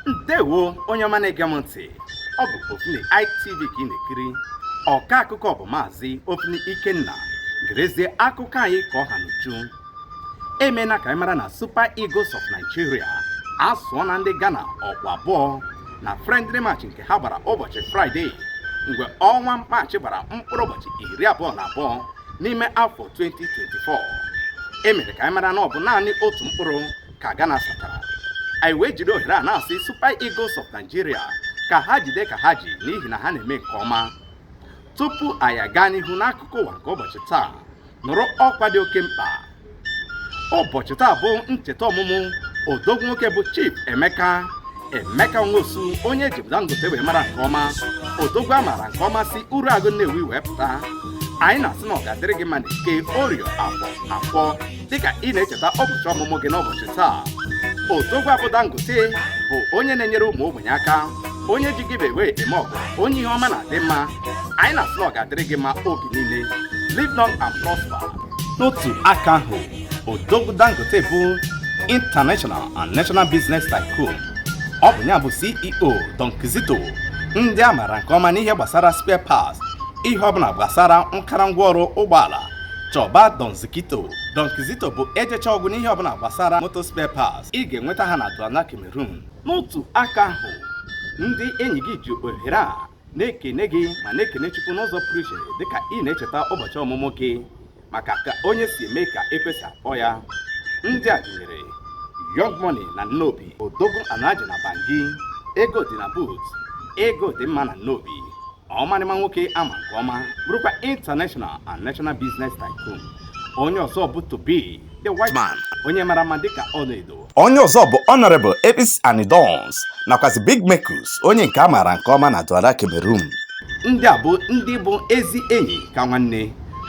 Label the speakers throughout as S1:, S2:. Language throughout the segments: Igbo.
S1: ndewo onye ọma na-ege m ntị ọ bụ Ofini ITV ka ị na-ekiri ọka akụkọ bụ maazị Ofini Ikenna gerezie akụkọ anyị ka ọ ha n'uju emena ka anyị mara na Super Eagles of Nigeria asụọna ndị Ghana ọkpụ abụọ na friendly match nke ha gbara ụbọchị Fraịde mgbe ọnwa Maachị gbara mkpụrụ ụbọchị iri abụọ na abụọ n'ime afọ 2024 e mere ka anyị mara na ọ bụ naanị otu mkpụrụ ka Ghana satara anyị wee jide ohere a na-asị Super Eagles of Nigeria ka ha jide ka ha ji n'ihi na ha na-eme nke ọma tupu anyị aga n'ihu n'akụkọ ụwa nke ụbọchị taa nụrụ ọkwa dị oke mkpa ụbọchị taa bụ ncheta ọmụmụ odogwu nwoke bụ Chief Emeka Emeka Nwosu onye eji bụ Dangote wee mara nke ọma odogwu a maara nke ọma si Uruagu Nnewi wee pụta anyị na-asị na ọ ga-adịrị gị mma n'Eke Orie Afọ Nkwọ dịka ị na-echeta ụbọchị ọmụmụ gị n'ụbọchị taa odogwu a bụ Dangote bụ onye na-enyere ụmụ ogbenye aka onye ji giveaway eme ọgọ onye ihe ọma na-adị mma anyị na-asị na ọ ga-adịrị gị mma oge niile live long and prosper n'otu aka ahụ odogwu dangote bụ international and national business tycoon ọ bụ ya bụ ceo don kizito ndị a maara nke ọma n'ihe gbasara spare parts ihe ọbụla gbasara nkara ngwaọrụ ụgbọala chọba don zikito don kizito bụ ejechaa ọ gwụ n'ihe ọbụla gbasara moto spare parts ị ga-enweta ha na Douala cameroon n'otu aka ahụ ndị enyi gị ji ohere a na-ekene gị ma na-ekene Chukwu n'ụzọ pụrụ iche dịka ị na-echeta ụbọchị ọmụmụ gị maka ka onye si eme ka ekwe si akpọ ya ndị a gụnyere Young Money na Nnobi Odogwu Anaji na Bangi ego dị na boot ego dị mma na Nnobi ọmarịma nwoke a ma nke ọma bụrụkwa international and national business tycoon onye ọzọ bụ Tobi the white man onye mara mma dịka ọlaedo onye ọzọ bụ Honorable Elvis Anidons nakwazi Big Mekus onye nke a maara nke ọma na Douala Cameroon ndị a bụ ndị bụ ezi enyi ka nwanne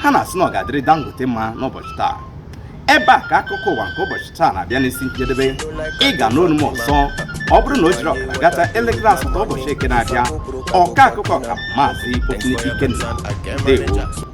S1: ha na-asị na ọ ga-adịrị Dangote mma n'ụbọchị taa ebe a ka akụkọ ụwa nke ụbọchị taa na-abịa n'isi njedebe ị ga-anụ olu m ọzọ ọ bụrụ na o jiri ọkara gata elekere asatọ ụbọchị eke na-abịa ọka akụkọ ka maazị Ofini Ikenna ndewo